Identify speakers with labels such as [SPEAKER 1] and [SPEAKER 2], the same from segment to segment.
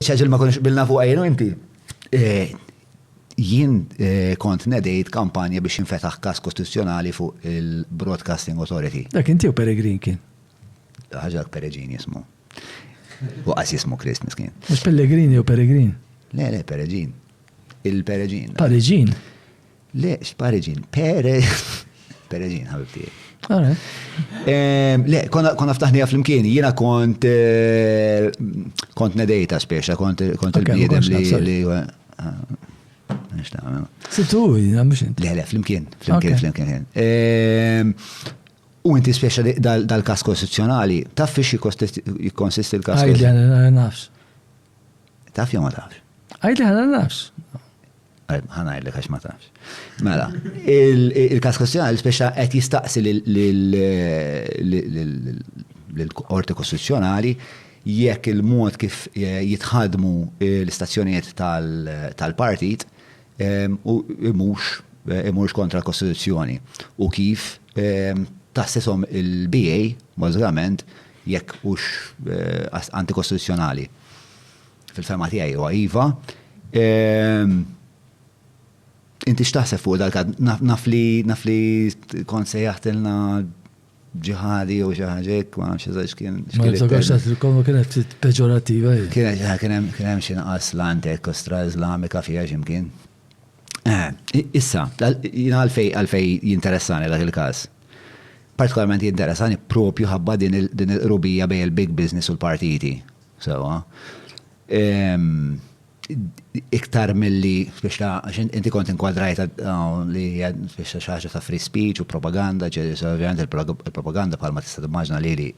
[SPEAKER 1] ċaġil ma konix bilna fuq għajnu inti. Eh, jien eh, kont nedejt kampanja biex infetaħ kas kostituzzjonali fuq il-Broadcasting Authority. Dak inti u Peregrin
[SPEAKER 2] kien? ħaġa
[SPEAKER 1] Peregrin jismu. U għas jismu Krist miskin. Mux Pellegrini u
[SPEAKER 2] Peregrin? Le, le, Peregrin.
[SPEAKER 1] Il-Peregrin. Pareġin.
[SPEAKER 2] Le,
[SPEAKER 1] x'pareġin, pereġin, ħabib tiegħi. Ehm, le, konna ftaħnija fl-imkien, jiena kont eh, kont nedejta speċa, kont il-bniedem li. Ah, Situ, jina mux
[SPEAKER 2] inti. Le, le, fl-imkien, fl-imkien,
[SPEAKER 1] fl-imkien. Ehm, u inti speċa dal-kas kostituzjonali, taf fiex jikonsisti l-kas? Għajli, nafx. Taf jew ma tafx? Għajt li ħana nafx. ħana għajt li kax ma tafx. Mela, il-kas kustjonali speċa qed jistaqsi l-Qorti Kostituzzjonali jekk il-mod kif eh, jitħadmu eh, l-istazzjonijiet tal-partit eh, u imux imux kontra l-Kostituzzjoni u kif tassisom il-BA, bażikament, jekk hux antikostituzzjonali. Fil-fema tiegħi huwa iva. Ehm, inti x'taħseb fuq dal naf li naf li kont se jaħtilna ġihadi u ġaħġek, ma nafx eżax kien. Ma niftakarx għat il-kolma
[SPEAKER 2] kienet peġorativa. Kienet kienem
[SPEAKER 1] xinqas l-antek kostra islamika fija ximkien. Issa, jina għalfej għalfej jinteressani dak il-każ. Partikolarment jinteressani propju ħabba din il-qrubija bejn il-big business u l-partiti. Sewa. Iktar milli biex ta' inti kont inkwadrajta li biex ta' xaġa ta' free speech u propaganda, ovvjament il-propaganda bħalma tista' timmaġna lili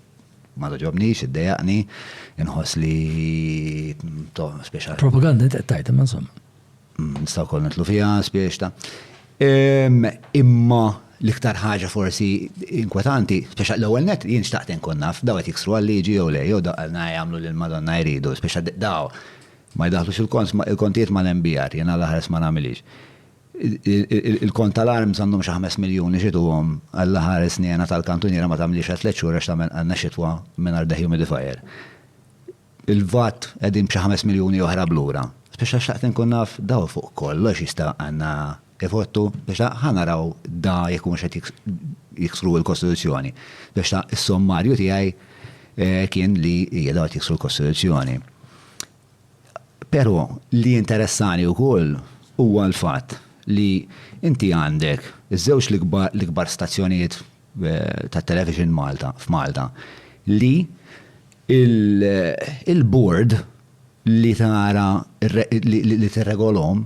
[SPEAKER 1] ma toġobnix, iddejaqni, inħoss li to' speċa. Propaganda inti qed tgħid
[SPEAKER 2] imma insomma. Nistgħu wkoll
[SPEAKER 1] nidħlu fiha spiex ta'. Imma l-iktar ħaġa forsi inkwetanti, speċa l-ewwel net jien xtaqt inkun naf daw qed jiksru għal-liġi jew le, jew daqalna jagħmlu lil Madonna jridu, speċa daw ma jdaħħlux il-kontijiet mal-MBR, jiena l-aħħar ma nagħmilhiex. Il-kont tal-arms għandhom xi ħames miljun li xituhom għall-aħħar is-snejna tal-kantuniera ma tagħmilhiex għal tliet xhur għax tagħmel għandna xitwa mingħajr dehumidifier. Il-vat qegħdin b'xi ħames miljuni oħra b'lura. Speċa xtaqt inkun naf daw fuq kollox jista' għandna jfottu, speċa ħa naraw da jekk humiex qed jiksru l-Kostituzzjoni. Speċa s-sommarju tiegħi kien li hija daw qed jiksru l-Kostituzzjoni. Però li jinteressani wkoll huwa l-fatt li inti għandek iż-żewġ l-ikbar stazzjonijiet ta' Television Malta f'Malta li l-board li tara li tirregolhom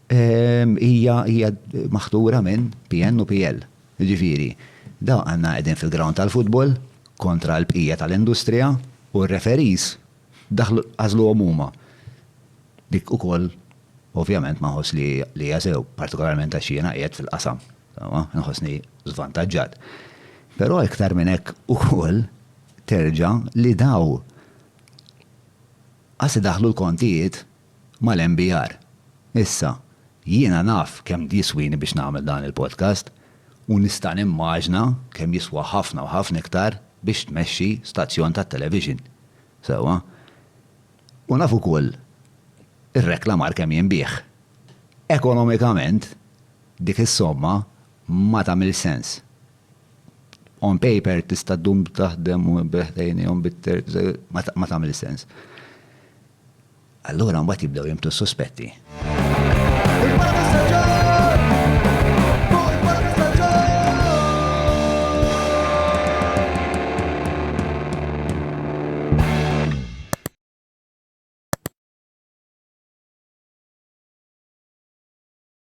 [SPEAKER 1] hija maħtura minn PN u PL. Jiġifieri, dawk għandna qegħdin fil-ground tal-futbol kontra l-bqija tal-industrija u r-referees daħlu għażluhom huma. Dik ukoll ovvjament ma nħoss li hija sew, partikolarment għax jiena qiegħed fil-qasam. Nħossni żvantaġġat. Però iktar minn hekk ukoll terġa' li daw qas idaħħlu l-kontijiet mal-MBR. Issa, jiena naf kemm jiswini biex nagħmel dan il-podcast u nista' nimmaġna kemm jiswa ħafna u ħafna iktar biex tmexxi stazzjon tat-television. Sewwa? U naf ukoll ir-reklamar kemm jinbiegħ. Ekonomikament, Dik is-somma ma tagħmilx sens. On paper tista' ddum taħdem u b'hekk tgħinihom bit-term, ma tagħmilx sens. Allura mbagħad jibdew jinbtu s-suspetti.